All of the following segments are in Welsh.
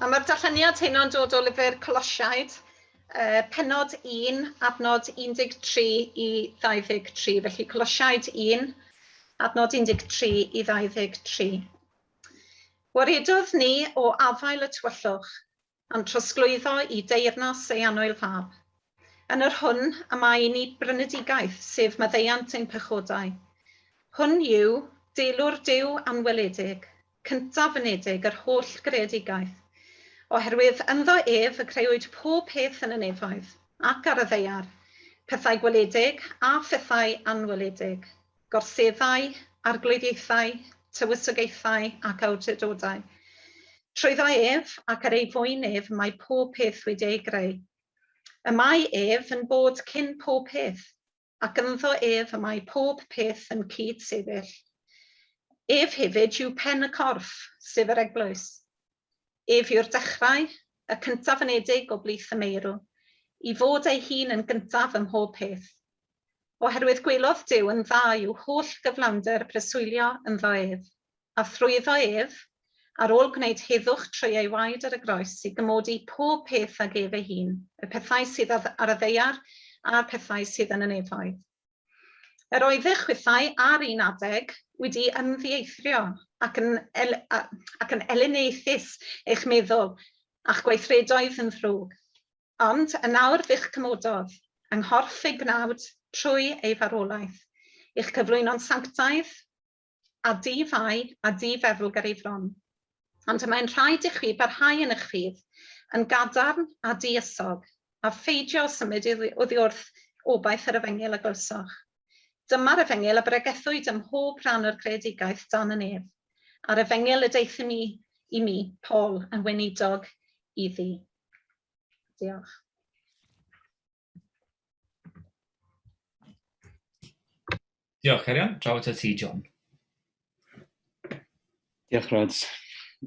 A ma'r darlleniad hyn o'n dod o lyfr Colosiaid, yy pennod un, adnod 13 i 23. Felly Colosiaid un, adnod 13 i 23. Waredodd ni o afael y tywyllwch, a'n trosglwyddo i deyrnas ei anwyl fab. Yn yr hwn a mae i ni brynedigaeth, sef maddeuant ein pechodau. Hwn yw deilwr Duw anweledig, cyntaf fynedig yr holl greadigaeth, oherwydd ynddo ef y creuwyd pob peth yn y nefoedd, ac ar y ddaear, pethau gweledig a phethau anweledig, gorseddau, arglwyddiaethau, tywysogaethau, ac awdurdodau. Trwyddo ef, ac ar ei fwyn ef, mae pob peth wedi ei greu. Y mae ef yn bod cyn pob peth, ac ynddo ef y mae pob peth yn cyd-sefyll. Ef hefyd yw pen y corff, sef yr eglwys. Ef yw'r dechrau, y cyntaf yn edig o blith y meirw, i fod ei hun yn gyntaf ym mhob peth. Oherwydd gwelodd Duw yn dda i'w holl gyflawnder preswylio ynddo ef. A thrwyddo ef, ar ôl gwneud heddwch trwy ei waed ar y groes, i gymodi pob peth ag ef ei hun, y pethau sydd ar y ddaear a'r pethau sydd yn y nefoedd. Yr oeddech chwithau ar un adeg wedi ymddieithrio ac yn, el, ac yn elyniaethus eich meddwl, a'ch gweithredoedd yn ddrwg. Ond yn nawr fe'ch cymododd, yng nghorff ei gnawd, trwy ei farwolaeth, i'ch cyflwyno'n sanctaidd, a di-fai a di-feddwl ger ei fron. Ond y mae'n rhaid i chwi barhau yn eich rhydd, yn gadarn a di-ysog, a pheidio â symud oddi wrth obaith yr efengyl a glywsoch. Dyma'r efengyl a bregethwyd ym mhob rhan o'r greadigaeth dan y nef, a'r efengyl y deuthum i, i mi, Paul, yn weinidog iddi. Diolch. Diolch, Cerion. Draw at ti, John. Diolch, Rod.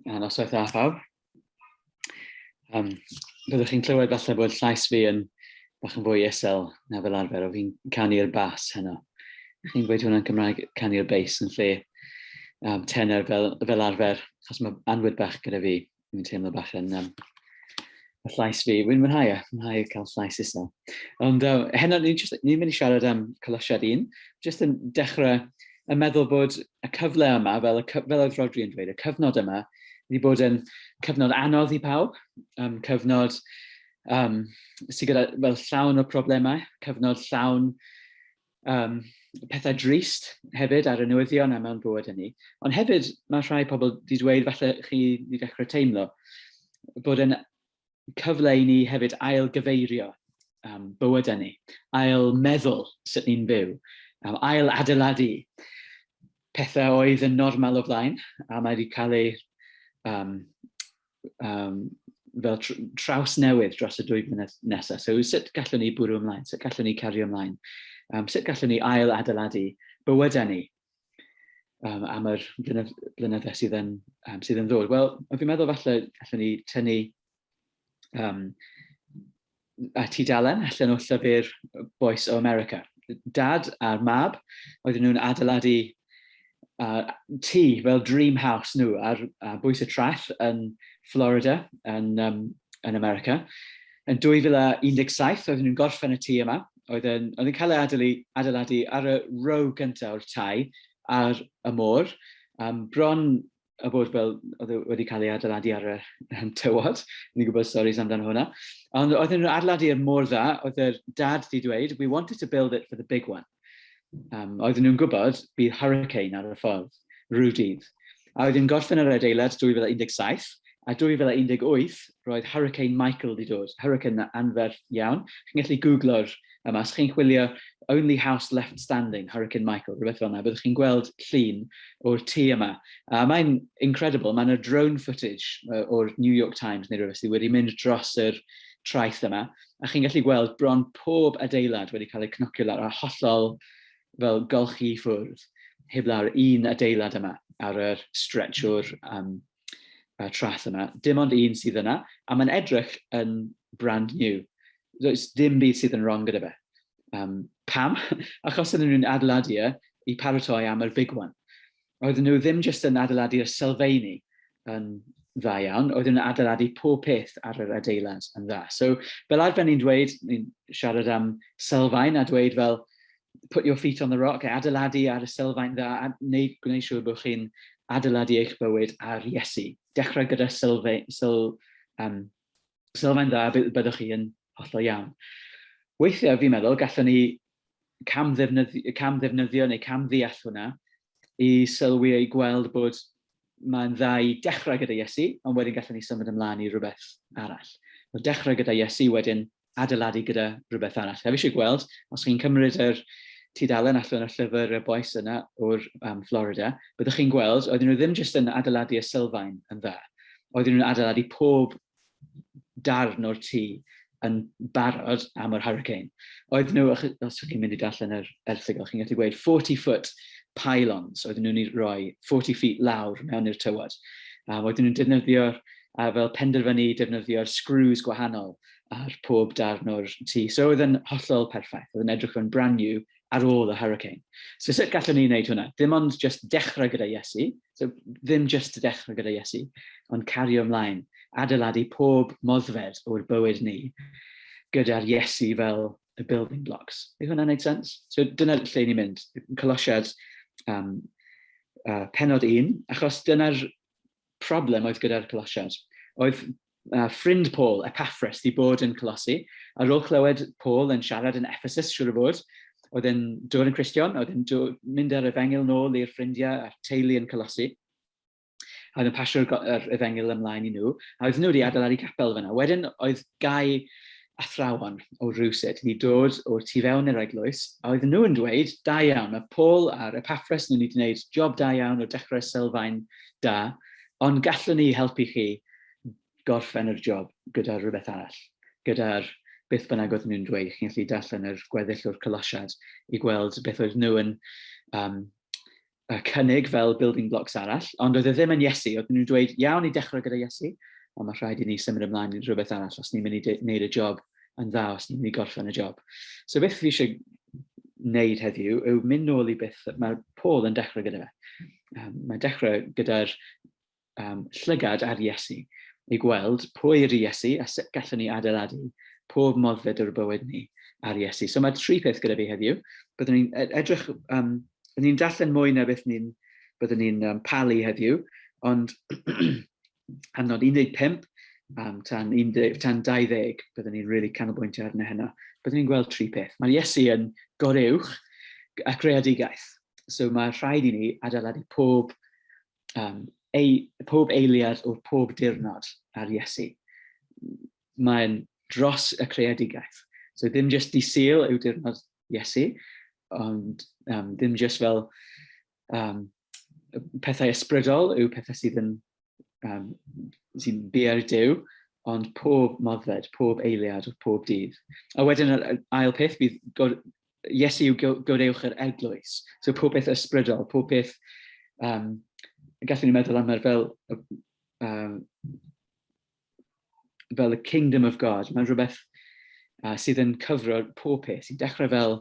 A noswaith dda, phawb. Um, byddwch chi'n clywed falle bod llais fi yn bach yn fwy isel na fel arfer, o fi'n canu'r bas heno. Chi'n gweud hwnna'n Cymraeg, canu'r bass yn lle um, tenor fel, fel arfer, achos mae anwyd bach gyda fi. Dwi'n teimlo bach yn um, y llais fi. Wy'n mwynhau e, mwynhau cael llais isel. Ond uh, heno, ni'n ni mynd i siarad am Colosiad un. Just yn dechrau yn meddwl bod y cyfle yma, fel, y, fel oedd Rodri yn dweud, y cyfnod yma, wedi bod yn cyfnod anodd i pawb, um, cyfnod um, sydd gyda fel llawn o problemau, cyfnod llawn um, pethau drist hefyd ar y newyddion a mewn bywyd hynny. Ond hefyd mae rhai pobl wedi dweud falle chi wedi dechrau teimlo bod yn cyfle i ni hefyd ail gyfeirio um, bywyd hynny, ail meddwl sut ni'n byw, um, ail adeiladu pethau oedd yn normal o flaen a mae wedi cael ei um, um, fel tr traws newydd dros y dwy flynedd nesaf. So sut gallwn ni bwrw ymlaen, sut gallwn ni cario ymlaen, um, sut gallwn ni ail adeiladu bywydau ni um, am yr blynyddau sydd yn, um, sydd yn ddod. Wel, fi'n meddwl falle allwn ni tynnu um, a tudalen allan o llyfr Bois o America. Dad a'r mab, oedden nhw'n adeiladu uh, tŷ fel dream house nhw ar uh, bwys y traeth yn Florida, yn, um, yn America. Yn 2017, oedden nhw'n gorffen y tŷ yma, oedd yn, oedd yn cael ei adeiladu, adeiladu ar y row gyntaf o'r tai ar y môr, um, bron a bod fel, oedd e wedi cael ei adeiladu ar y um, tywod, ni'n gwybod storys amdano hwnna. Ond oedd nhw'n adeiladu er mor dda, oedd yr dad wedi dweud, we wanted to build it for the big one. Um, oedd nhw'n gwybod bydd hurricane ar y ffordd, rhyw A oedd yn gorffen yr adeilad 2017, a 2018 roedd Hurricane Michael wedi dod, hurricane anferth iawn. Chi'n gallu googlo'r Um, as chi'n chwilio Only House Left Standing, Hurricane Michael, rhywbeth fel yna, byddwch chi'n gweld llun o'r tŷ yma. A mae'n incredible, mae'n y drone footage o'r New York Times neu rhywbeth sydd wedi mynd dros yr traeth yma, a chi'n gallu gweld bron pob adeilad wedi cael eu cnocio lawr a hollol fel golchi i ffwrdd, heb lawr un adeilad yma ar yr stretch o'r um, uh, trath yna. Dim ond un sydd yna, a mae'n edrych yn brand new. Does dim byd sydd yn wrong gyda fe. Um, pam? Achos ydyn nhw'n adeiladu e i paratoi am yr big one. Oedden nhw ddim jyst yn adeiladu'r sylfeini yn dda iawn, oedden nhw'n adeiladu pob peth ar yr adeilad yn dda. So, fel arfer ni'n dweud, ni'n siarad am sylfaen a dweud fel, put your feet on the rock, adeiladu ar y sylfaen dda, a wneud, gwneud siŵr bod chi'n adeiladu eich bywyd ar Iesu. Dechrau gyda sylfe, syl, um, sylfaen dda, byddwch chi yn hollol iawn. Weithiau, fi'n meddwl, gallwn ni cam ddefnyddio, cam ddefnyddio neu cam ddeall hwnna i sylwi ei gweld bod mae'n dda i dechrau gyda Iesu, ond wedyn gallwn ni symud ymlaen i rhywbeth arall. Wel, dechrau gyda Iesu, wedyn adeiladu gyda rhywbeth arall. A fi eisiau gweld, os chi'n cymryd yr tudalen allan o'r llyfr y boes yna o'r um, Florida, byddwch chi'n gweld, oedden nhw ddim jyst yn adeiladu y sylfaen yn dda, oedden nhw'n adeiladu pob darn o'r tŷ yn barod am yr hurricane. Oedd nhw, os ydych chi'n mynd i darllen yr erthigol, chi'n gallu gweud 40 foot pylons, oedd nhw'n rhoi 40 feet lawr mewn i'r tywod. Um, oedd nhw'n defnyddio'r a fel penderfynu defnyddio'r screws gwahanol ar pob darn o'r tŷ. So oedd yn hollol perffaith, oedd yn edrych yn brand new ar ôl y hurricane. So sut gallwn ni wneud hwnna? Ddim ond just dechrau gyda Iesu, so ddim just dechrau gyda Iesu, ond cario ymlaen, adeiladu pob moddfed o'r bywyd ni gyda'r Iesu fel y building blocks. Yw hwnna'n gwneud sens? So dyna lle ni'n mynd, colosiad um, uh, penod un, achos dyna'r problem oedd gyda'r colosiad. Oedd Mae ffrind Paul, Epaffras, wedi bod yn Colosi. Ar ôl clywed Paul yn siarad yn Ephesus, siŵr o fod, oedd e'n dod yn Cristion, oedd e'n mynd â'r efengyl nôl i'r ffrindiau a'r teulu yn Colosi, a oedd yn pasio'r yr efengyl ymlaen i nhw, a oedd nhw wedi adeiladu capel fyna. Wedyn oedd gau athrawon o rywsut wedi dod o'r tu fewn i'r eglwys, a oedd nhw yn dweud, da iawn, mae Paul a'r Epaffras nhw wedi gwneud job da iawn o dechrau sylfaen da, Ond gallwn ni helpu chi gorffen yr job gyda rhywbeth arall, gyda'r beth bynnag oedden nhw'n dweud, chi'n gallu darllen yr gweddill o'r collasiad i gweld beth oedd nhw yn um, uh, cynnig fel building blocks arall, ond oedd e ddim yn Iesu, oedd nhw'n dweud, iawn i dechrau gyda Iesu, ond mae rhaid i ni symud ymlaen i rhywbeth arall os ni'n mynd i wneud y job yn dda, os ni'n mynd i gorffen y job. So beth fi eisiau wneud heddiw yw mynd nôl i beth mae Paul yn dechrau gyda fe. um, mae dechrau gyda'r um, llygad ar Iesu, i gweld pwy yr Iesu a sut gallwn ni adeiladu pob moddfed o'r bywyd ni ar Iesu. So mae tri peth gyda fi heddiw. Byddwn ni'n e-, edrych, um, byddwn ni'n darllen mwy na beth ni'n byddwn ni'n um, palu heddiw, ond am nod 15, um, tan, 10, tan 20, byddwn ni'n really canolbwyntio arno hynna. Byddwn ni'n gweld tri peth. Mae Iesu yn goreuwch a creadigaeth. So mae rhaid i ni adeiladu pob, um, ei, pob eiliad o'r pob dirnod ar Iesu. Mae'n dros y creadigaeth. So ddim jyst di syl yw dirnod Iesu, ond um, ddim jyst fel um, pethau ysbrydol yw pethau sydd yn um, sy'n bier dew, ond pob moddfed, pob eiliad, pob dydd. A wedyn yr ail peth bydd god, Iesu yw godewch yr eglwys. So pob peth ysbrydol, pob peth, um, gallwn ni meddwl am yr fel um, fel y Kingdom of God, mae'n rhywbeth uh, sydd yn cyfro pob peth, sy'n dechrau fel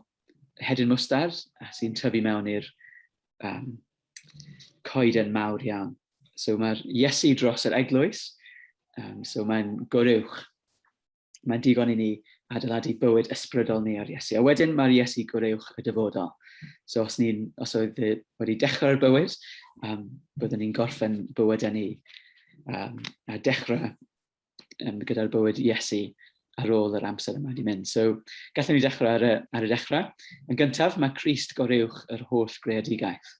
hedyn mwstard a sy'n tyfu mewn i'r um, coeden mawr iawn. So mae'r Iesu dros yr eglwys, um, so mae'n goruwch. Mae'n digon i ni adeiladu bywyd ysbrydol ni ar Iesu. A wedyn mae'r Iesu goruwch y dyfodol. So os, ni, os oedd wedi dechrau'r bywyd, um, byddwn ni'n gorffen bywydau ni. um, a dechrau um, gyda'r bywyd Iesu ar ôl yr amser yma wedi mynd. So, gallwn ni dechrau ar y, ar y dechrau. Yn gyntaf, mae Christ goreuwch yr holl greadigaeth.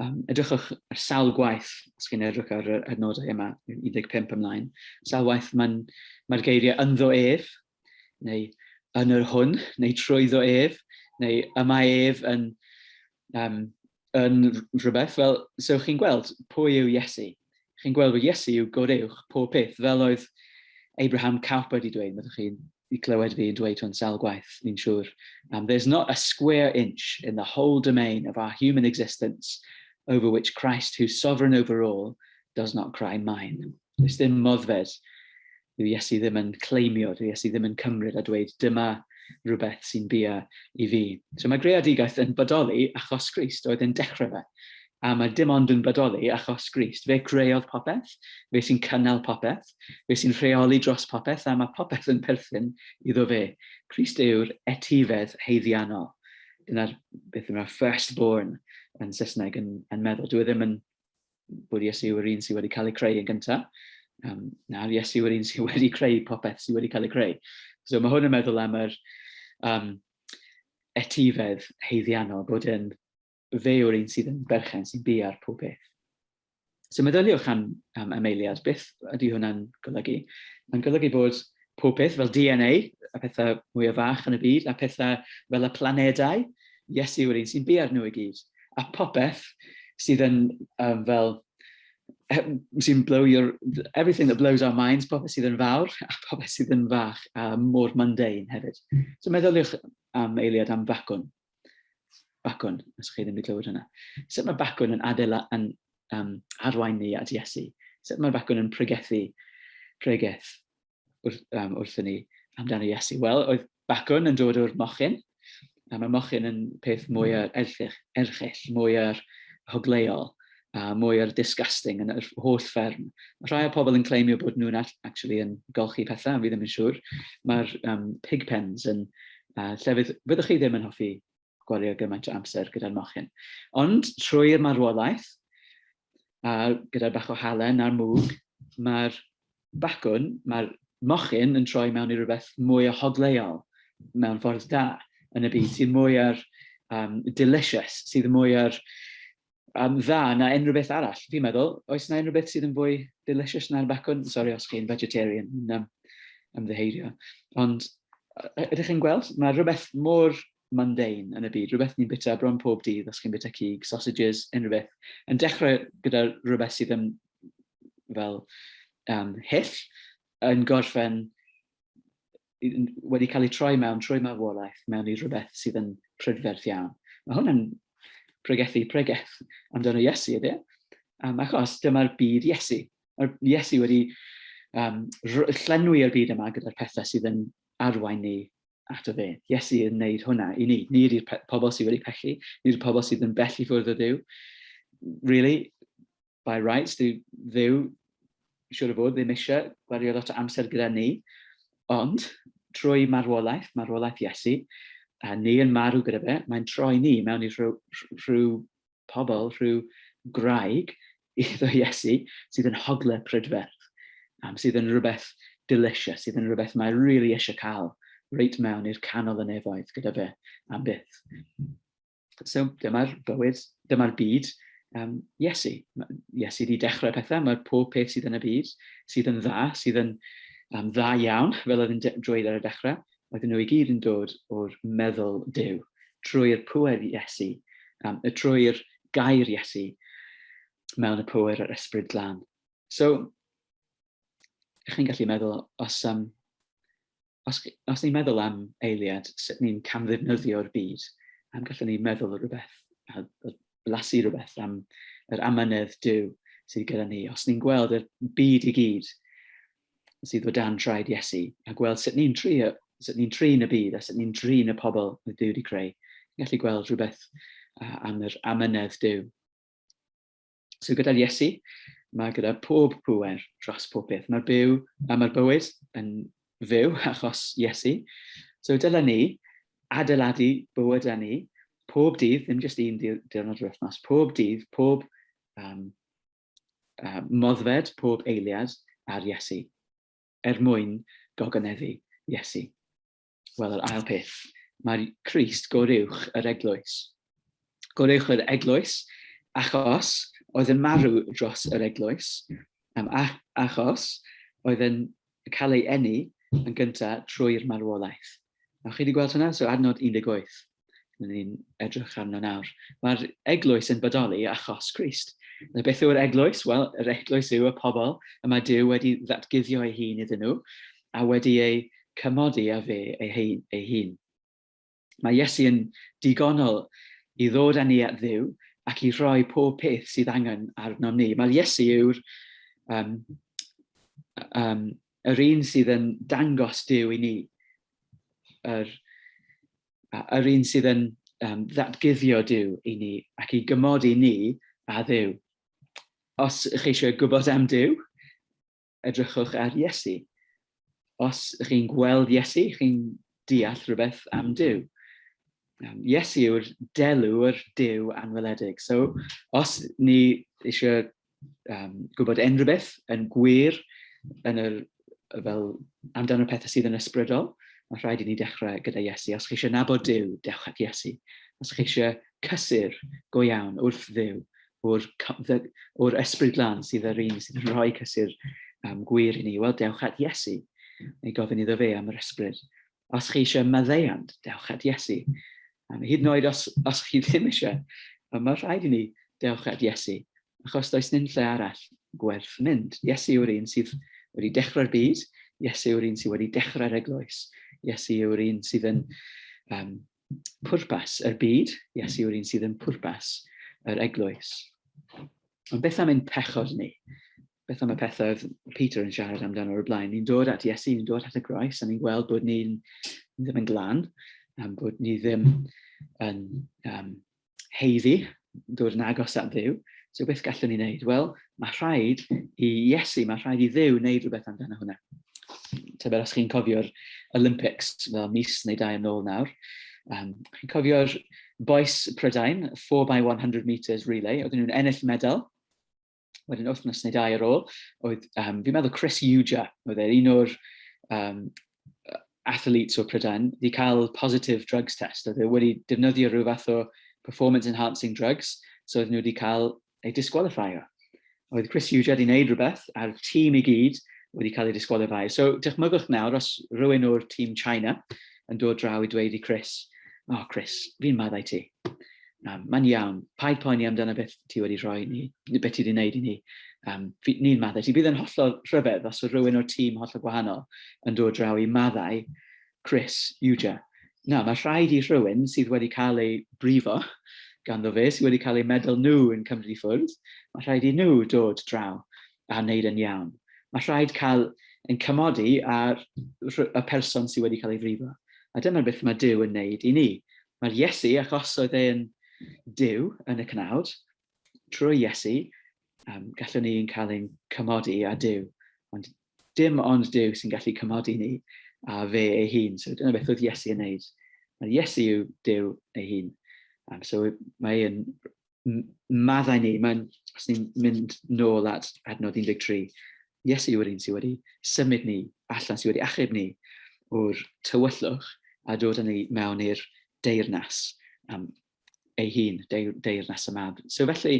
Um, edrychwch ar sawl gwaith, os chi'n edrych ar y adnodau yma, 15 ymlaen, sawl waith mae'r mae geiriau ynddo ef, neu yn yr hwn, neu trwyddo ef, neu y mae ef yn um, yn rhywbeth, fel, so chi'n gweld pwy yw Iesu. Chi'n gweld bod Iesu yw goreuwch pob peth, fel oedd Abraham Cowper wedi dweud, meddwch chi'n i clywed fi yn dweud hwn sawl gwaith, fi'n siŵr. Um, there's not a square inch in the whole domain of our human existence over which Christ, who's sovereign over all, does not cry mine. Does dim moddfed. Dyw Iesu ddim yn claimio, dyw Iesu ddim yn cymryd a dweud, dyma rhywbeth sy'n bia i fi. So mae greadigaeth yn bodoli achos Christ oedd yn dechrau fe. A mae dim ond yn bodoli achos Christ. Fe creodd popeth, fe sy'n cynnal popeth, fe sy'n rheoli dros popeth, a mae popeth yn perthyn iddo fe. Christ yw'r etifedd heiddiannol. Dyna'r beth yma, firstborn yn Saesneg yn, yn meddwl. Dwi e ddim yn bod Iesu yw'r un sydd wedi cael ei creu yn gyntaf, um, nawr Iesu yw'r un sydd wedi creu popeth sydd wedi cael ei creu. So mae hwn yn meddwl am yr um, etifedd heiddiannol, bod yn fe yw'r un sydd yn berchen sy'n bu ar pob beth. So meddyliwch am, am ymleiliad, beth ydy hwnna'n golygu? Mae'n golygu bod pob peth fel DNA, y pethau mwyaf fach yn y byd, a pethau fel y planedau, Iesu yw'r un sy'n biau'r nhw i gyd. A popeth sydd yn um, fel sy'n blow your everything that blows our minds, popeth sydd yn fawr a popeth sydd yn fach a mor mundane hefyd. So meddyliwch am eiliad am facwn. Bacwn, os chi ddim wedi clywed hynna. Sut mae bacwn yn adela yn um, arwain ni at Iesu? Sut mae bacwn yn pregethu pregeth wrth, um, wrth ni amdano Iesu? Wel, oedd bacwn yn dod o'r mochyn, a mae mochyn yn peth mwy o'r erchill, erchill mwy o'r hogleol, a mwy o'r disgusting yn yr holl fferm. Mae rhai o pobl yn claimio bod nhw'n actually yn golchi pethau, fi ddim yn siŵr. Mae'r um, pig pens yn uh, lle fydd, fyddwch chi ddim yn hoffi gwario gymaint o amser gyda'r mochyn. Ond trwy'r marwolaeth, a gyda'r bach o halen a'r mwg, mae'r bacwn, mae'r mochyn yn troi mewn i rhywbeth mwy o hogleuol mewn ffordd da yn y byd sydd mwy ar um, delicious, sydd mwy ar um, dda na unrhyw beth arall, fi'n meddwl. Oes na unrhyw beth sydd yn fwy delicious na'r bacwn? Sorry os chi'n vegetarian, yn um, ymddeheirio. Ond ydych chi'n gweld, mae rhywbeth mor mundane yn y byd, rhywbeth ni'n bita bron pob dydd, os chi'n bita cig, sausages, unrhyw beth, yn dechrau gyda rhywbeth sydd yn fel um, hyll, yn gorffen wedi cael ei troi mewn trwy marwolaeth mewn i rhywbeth sydd yn prydferth iawn. Mae hwn yn pregethu pregeth amdano Iesu, ydy? Um, achos dyma'r byd Iesu. Mae'r Iesu wedi um, llenwi y byd yma gyda'r pethau sydd yn arwain ni at o fe. Iesu yn wneud hwnna i ni. Ni ydy'r pobl sydd wedi pechu, ni ydy'r pobl sydd yn bell i ffwrdd o Dduw. Really, by rights, dwi ddew, siwr o fod, ddim eisiau gwario lot o amser gyda ni, ond trwy marwolaeth, marwolaeth Iesu, a ni yn marw gyda fe, mae'n troi ni mewn i rhyw, rhyw pobl, rhyw graig iddo Iesu sydd yn hogle prydferth, um, sydd yn rhywbeth delicious, sydd yn rhywbeth mae rili really eisiau cael reit mewn i'r canol y nefoedd gyda fe am byth. So dyma'r bywyd, dyma'r byd um, Iesu. Iesu wedi dechrau pethau, mae pob peth sydd yn y byd, sydd yn dda, sydd yn um, dda iawn, fel oedd yn drwy'r ar y dechrau, oedden nhw i gyd yn dod o'r meddwl dew, trwy'r pŵer Iesu, um, trwy'r gair Iesu mewn y pŵer yr ysbryd glan. So, chi'n gallu meddwl, os, um, os, os ni'n meddwl am eiliad, sut ni'n camddefnyddio'r byd, am gallwn ni meddwl rhywbeth, a blasu rhywbeth am yr amynedd Dyw sydd gyda ni. Os ni'n gweld y byd i gyd sydd o dan traed Iesu, a gweld sut ni'n tri, sut ni'n trin y byd, a sut ni'n trin y pobl y Dyw wedi creu, ni'n gallu gweld rhywbeth am yr amynedd Dyw. So gyda Iesu, mae gyda pob pŵer dros pob peth. Mae'r byw, a mae'r bywyd yn fyw achos Iesu. So dylen ni adeiladu bywyd â ni pob dydd, ddim jyst un diwrnod yr wythnos, pob dydd, pob um, uh, moddfed, pob eiliad ar Iesu, er mwyn gogoneddu Iesu. Wel, yr ail peth, mae Christ goruwch yr eglwys. Goruwch yr eglwys achos oedd yn marw dros yr eglwys, am achos oedd yn cael ei enni yn gyntaf trwy'r marwolaeth. Nawch chi wedi gweld hwnna? So adnod 18. Rydyn ni'n edrych arno nawr. Mae'r eglwys yn bodoli achos Christ. Na beth yw'r eglwys? Wel, yr eglwys yw y pobl y mae Dyw wedi ddatguddio ei hun iddyn nhw a wedi ei cymodi a fe ei, hei, ei hun. Mae Iesu yn digonol i ddod â ni at ddiw ac i roi pob peth sydd angen arnom ni. Mae'r Iesu yw'r um, um, yr un sydd yn dangos Duw i ni, yr, yr un sydd yn um, ddatguddio Duw i ni ac i gymod i ni a Dduw. Os ych chi eisiau gwybod am Duw, edrychwch ar Iesu. Os ych chi'n gweld Iesu, chi'n deall rhywbeth am Duw. Um, Iesu yw'r delw yr Duw anweledig. So, os ni eisiau um, gwybod unrhyw beth yn gwir yn yr, fel amdano'r pethau sydd yn ysbrydol, mae rhaid i ni dechrau gyda Iesu. Os chi eisiau nabod Dyw, dewch at Iesu. Os chi eisiau cysur go iawn wrth ddew, o'r, or ysbryd lan sydd yr un sydd yn rhoi cysur um, gwir i ni, wel, dewch at Iesu. Neu gofyn iddo fe am yr ysbryd. os chi eisiau maddeuant, dewch at Iesu. Um, hyd yn oed os, os chi ddim eisiau, um, mae rhaid i ni dewch at Iesu, achos does dim lle arall gwerth mynd. Iesu yw'r un sydd wedi dechrau'r byd, Iesu yw'r un sydd wedi dechrau'r eglwys, Iesu yw'r un sydd yn um, pwrpas yr byd, Iesu yw'r un sydd yn pwrpas yr eglwys. Ond beth am ein pechod ni? Beth am y pethau oedd Peter yn siarad amdano o'r blaen? Ni'n dod at Iesu, ni'n dod at y groes, a ni'n gweld bod ni'n ddim yn glan, am bod ni ddim yn um, heiddi, dod yn agos at ddiw, so beth gallwn ni wneud? Wel, mae rhaid i Iesu, mae rhaid i ddiw wneud rhywbeth amdano hwnna. Tyber os chi'n cofio'r Olympics, fel mis neu dau yn ôl nawr, um, chi'n cofio'r boes Prydain, 4 by 100 metres relay, oedden nhw'n ennill medal, wedyn wythnos neu dau ar ôl, oedd, um, fi'n meddwl Chris Uja, oedd e un o'r um, athletes o Prydain, wedi cael positive drugs test, oedd e wedi defnyddio rhyw fath o performance enhancing drugs, so oedd nhw wedi cael ei disqualifio. Oedd Chris Uja wedi gwneud rhywbeth, a'r tîm i gyd wedi cael ei disqualifio. So, dychmygwch nawr, os rhywun o'r tîm China yn dod draw i dweud i Chris, oh Chris, fi'n maddau ti, Um, Mae'n iawn, paid poeni amdano beth ti wedi rhoi ni, neu beth ti wedi gwneud i ni. Um, ni'n maddau ti. Bydd yn hollol rhyfedd os oedd rhywun o'r tîm hollol gwahanol yn dod draw i maddau Chris Uja. Na, mae rhaid i rhywun sydd wedi cael ei brifo ganddo fe, sydd wedi cael ei meddwl nhw yn cymryd i ffwrdd, mae rhaid i nhw dod draw a wneud yn iawn. Mae rhaid cael yn cymodi ar y person sydd wedi cael ei frifo. A dyma beth mae Dyw yn wneud i ni. Mae'r Iesu, ac os oedd e'n Duw yn y cnawd, trwy Iesu, um, gallwn ni'n cael ein cymodi a Duw, ond dim ond Duw sy'n gallu cymodi ni a fe ei hun. So dyna beth oedd Iesu yn neud. Mae Iesu yw Duw ei hun. Um, so mae e'n maddau ni, mae'n, os ni'n mynd nôl at adnod 13, Iesu yw'r un sydd wedi symud ni allan, sydd wedi achub ni o'r tywyllwch a dod â ni mewn i'r deyrnas um, ei hun, deir, deyrnas y mab. So felly,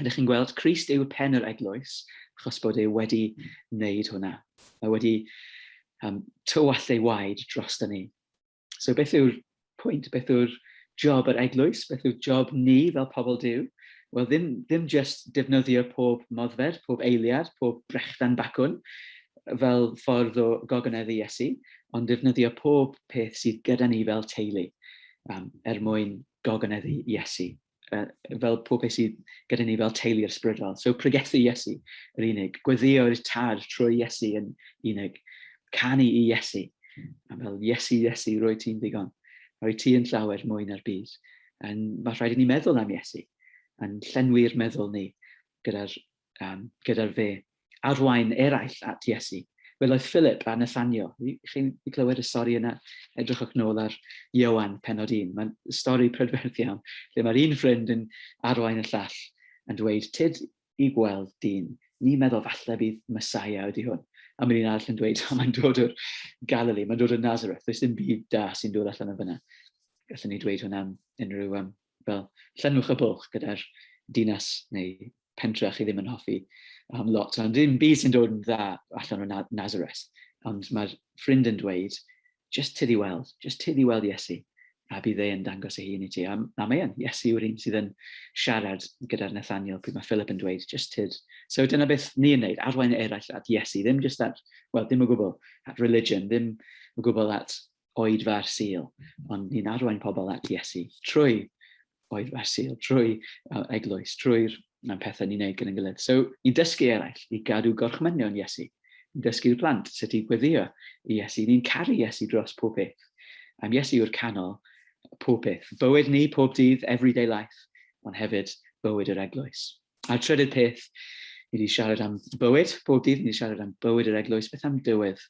ydych chi'n gweld, Christ yw pen yr eglwys, achos bod e wedi wneud hwnna. Mae wedi um, tywall ei waed dros da ni. So beth yw'r pwynt, beth yw'r job yr eglwys, beth yw'r job ni fel pobl Dyw? Wel, ddim, ddim just defnyddio pob moddfed, pob eiliad, pob brechdan bacwn fel ffordd o gogoneddu Iesu, ond defnyddio pob peth sydd gyda ni fel teulu um, er mwyn gogoneddu Iesu. uh, fel pob peth sydd gyda ni fel teulu ysbrydol. So pregethu Iesu yr unig, gweddio'r tad trwy Iesu yn unig, canu i Iesu, a fel Iesu, Iesu, roi ti'n ddigon, roi ti yn llawer mwy na'r byd. Yn, mae rhaid i ni meddwl am Iesu, yn llenwi'r meddwl ni gyda'r um, gyda'r fe, arwain eraill at Iesu. Welodd Philip a Nathanio. Chi'n clywed y stori yna? Edrychwch nôl ar Iowan, penod un. Mae'n stori prydferth iawn, lle mae'r un ffrind yn arwain y llall yn dweud, tyd i gweld dyn, ni meddwl falle bydd Messiah ydy hwn. A mae'n un arall yn dweud, oh, mae'n dod o'r Galilee, mae'n dod o Nazareth, does dim byd da sy'n dod allan yn fyna. Gallwn ni dweud hwnna am unrhyw um, fel llenwch y bwlch gyda'r dinas neu pentre a chi ddim yn hoffi um, lot, ond ddim byd sy'n dod yn dda allan o Nazareth. Ond mae'r ffrind yn dweud, just tydi weld, just tydi weld Iesu, a bydd ei yn dangos ei hun i ti. A, a mae e'n, Iesu yw'r un sydd yn siarad gyda'r Nathaniel pryd mae Philip yn dweud, just tyd. So dyna beth ni'n neud, arwain eraill at Iesu, ddim just at, well, ddim o gwbl at religion, ddim o gwbl at oedfa'r Sul, ond ni'n arwain pobl at Iesu trwy oedfa'r Sul, trwy uh, eglwys, trwy'r um, pethau ni'n neud gyda'n gilydd. So, ni'n dysgu eraill i gadw gorchmynion Iesu. Ni'n dysgu'r plant sut i gweddio i Iesu. Ni'n caru Iesu dros pob beth. Am Iesu yw'r canol pob peth. Bywyd ni, pob dydd, everyday life, ond hefyd bywyd yr eglwys. A'r trydydd peth, ni wedi siarad am bywyd, bob dydd ni wedi siarad am bywyd yr eglwys, beth am dywydd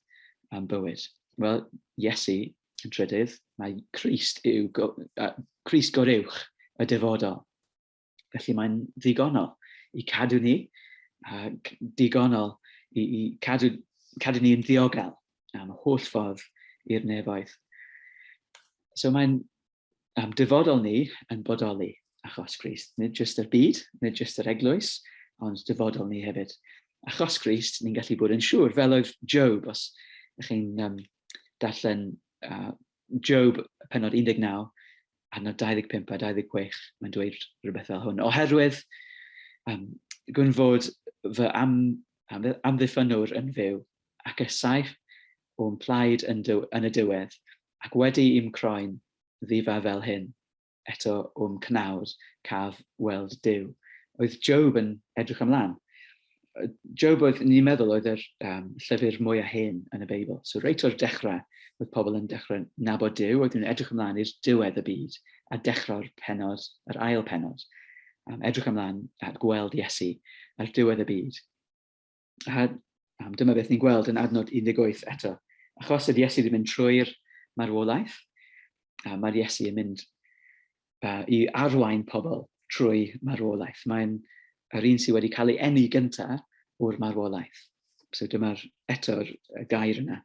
am bywyd? Wel, Iesu yn trydydd, mae Christ yw, go, uh, Christ gorywch y dyfodol. Felly mae'n ddigonol i cadw ni, a digonol i, i cadw, cadw ni yn ddiogel am holl ffordd i'r nefoedd. So mae'n am dyfodol ni yn bodoli achos Christ. Nid jyst yr byd, nid jyst yr eglwys, ond dyfodol ni hefyd. Achos Christ, ni'n gallu bod yn siŵr, fel oedd Job, os ydych chi'n um, darllen uh, Job penod 19, arno 25 a 26, mae'n dweud rhywbeth fel hwn. Oherwydd um, gwn fod fy am, am, amddiffynwr yn fyw ac y saif o'n plaid yn, dyw, yn y diwedd, Ac wedi i'm croen ddifa fel hyn, eto o'm cnawd caf weld Duw. Oedd Job yn edrych ymlaen. Job oedd, ni'n meddwl, oedd yr um, llyfr mwyaf hen yn y Beibl. So reit o'r dechrau, oedd pobl yn dechrau nabod Duw, oedd nhw'n edrych ymlaen i'r diwedd y byd a dechrau'r penod, yr ail penod, um, edrych ymlaen at gweld Iesu ar diwedd y byd. A dyma beth ni'n gweld yn adnod 18 eto. Achos oedd Iesu wedi mynd trwy'r marwolaeth, a mae'r Iesu yn mynd uh, i arwain pobl trwy marwolaeth. Mae'n yr un sydd wedi cael ei enni gyntaf o'r marwolaeth. So dyma'r eto'r gair yna.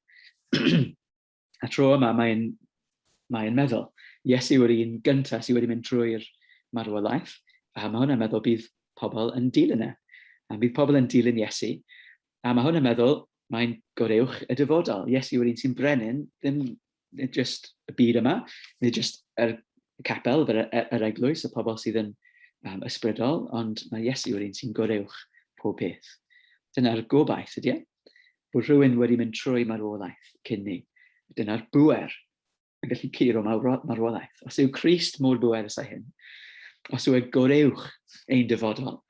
A tro yma mae'n mae'n meddwl, Iesu yw'r un gyntaf sydd wedi mynd trwy'r marwolaeth, a mae hwnna'n meddwl bydd pobl yn dilyn e. A bydd pobl yn dilyn Iesu, a mae hwnna'n meddwl mae'n goreuwch y dyfodol. Iesu yw'r un sy'n brenin, ddim just y byd yma, neu just yr capel, yr, yr eglwys, y pobl sydd yn um, ysbrydol, ond mae Iesu yw'r un sy'n goreuwch pob peth. Dyna'r gobaith, ydy e? bod rhywun wedi mynd trwy marwolaeth cyn ni. Dyna'r bwer yn gallu curo marwolaeth. Os yw Christ mor bwer ysau hyn, os yw e goreuwch ein dyfodol,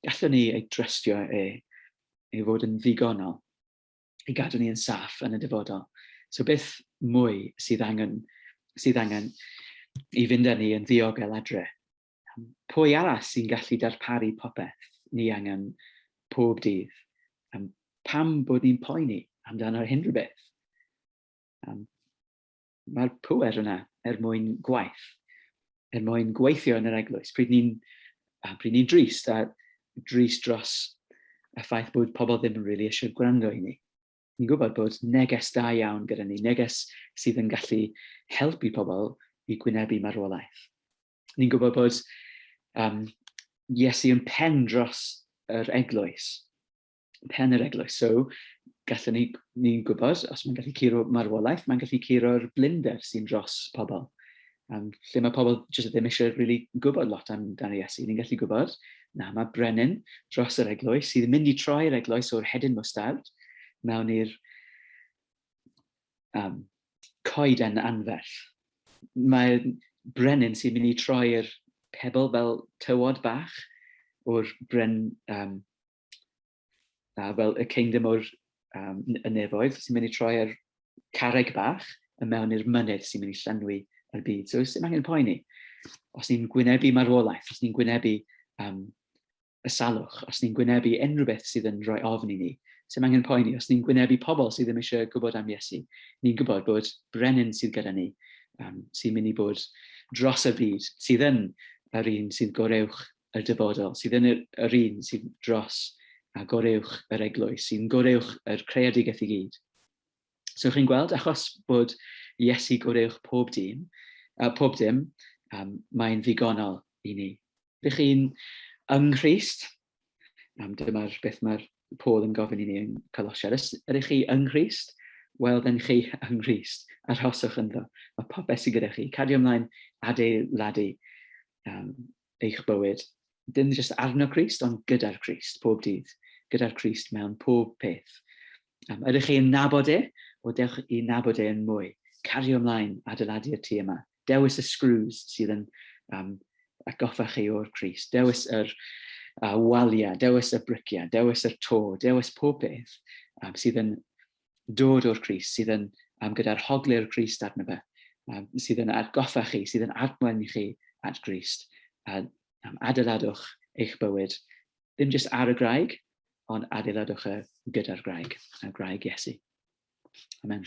gallwn ni ei drystio e, ei fod yn ddigonol, i gadw ni yn saff yn y dyfodol. So beth mwy sydd angen, sydd angen i fynd â ni yn ddiogel adre? Pwy arall sy'n gallu darparu popeth ni angen pob dydd? Pam bod ni'n poeni amdano unrhyw beth? Mae'r pŵer yna er mwyn gwaith, er mwyn gweithio yn yr eglwys. Pryd ni'n ni drist a drist dros y ffaith bod pobl ddim yn really eisiau gwrando i ni. Ni'n gwybod bod neges da iawn gyda ni, neges sydd yn gallu helpu pobl i gwynebu marwolaeth. Ni'n gwybod bod um, Iesu yn pen dros yr eglwys, pen yr eglwys. So, gallwn ni'n ni, gwybod, os mae'n gallu curo marwolaeth, mae'n gallu curo'r blinder sy'n dros pobl. Um, lle mae pobl jyst ddim eisiau really gwybod lot am dan ei Iesu. Ni'n gallu gwybod, na, mae brenin dros yr eglwys sydd yn mynd i troi'r eglwys o'r hedyn mwstard mewn i'r um, coeden anferth. Mae brenin sy'n mynd i troi'r pebl fel tywod bach o'r bren, um, uh, fel y kingdom o'r um, y nefoedd sy'n mynd i troi ar carreg bach y mewn i'r mynydd sy'n mynd i llenwi yr byd. So, sy'n angen poeni. Os ni'n gwynebu marwolaeth, os ni'n gwynebu um, y salwch, os ni'n gwynebu unrhyw beth sydd yn rhoi ofn i ni, sy'n angen poeni, os ni'n gwynebu pobl sydd ddim eisiau gwybod am Iesu, ni'n gwybod bod brenin sydd gyda ni, um, sy'n mynd i bod dros y byd, sydd yn yr un sydd goreuwch y dyfodol, sydd yn yr un sydd dros a goreuwch yr eglwys, sy'n goreuwch yr creadigaeth i gyd. So chi'n gweld, achos bod Iesu goreuwch pob dyn, uh, pob dim, um, mae'n ddigonol i ni. Dych chi'n yng Nghrist? Um, Dyma'r beth mae'r Paul yn gofyn i ni yn Colosiad. Ydych chi yng Nghrist? Wel, dyn chi yng Nghrist. Arhoswch ynddo. Mae popeth sydd gyda chi. Cadio ymlaen adeiladu um, eich bywyd. Dim jyst arno Christ, ond gyda'r Christ, pob dydd. Gyda'r Christ mewn pob peth. Um, ydych chi'n nabod e? O, dewch i nabod e yn mwy. Cario ymlaen, adeiladu'r tu yma. Dewis y screws sydd yn um, atgoffa chi o'r Crist. Dewis yr uh, waliau, dewis y briciau, dewis yr to, dewis pob peth um, sydd yn dod o'r Crist, sydd yn um, gyda'r hoglu'r Crist arno fe, um, sydd yn atgoffa chi, sydd yn admoen i chi at Grist. A um, adeiladwch eich bywyd, ddim jyst ar y graig, ond adeiladwch y gyda'r graig, y graig Iesu. Amen.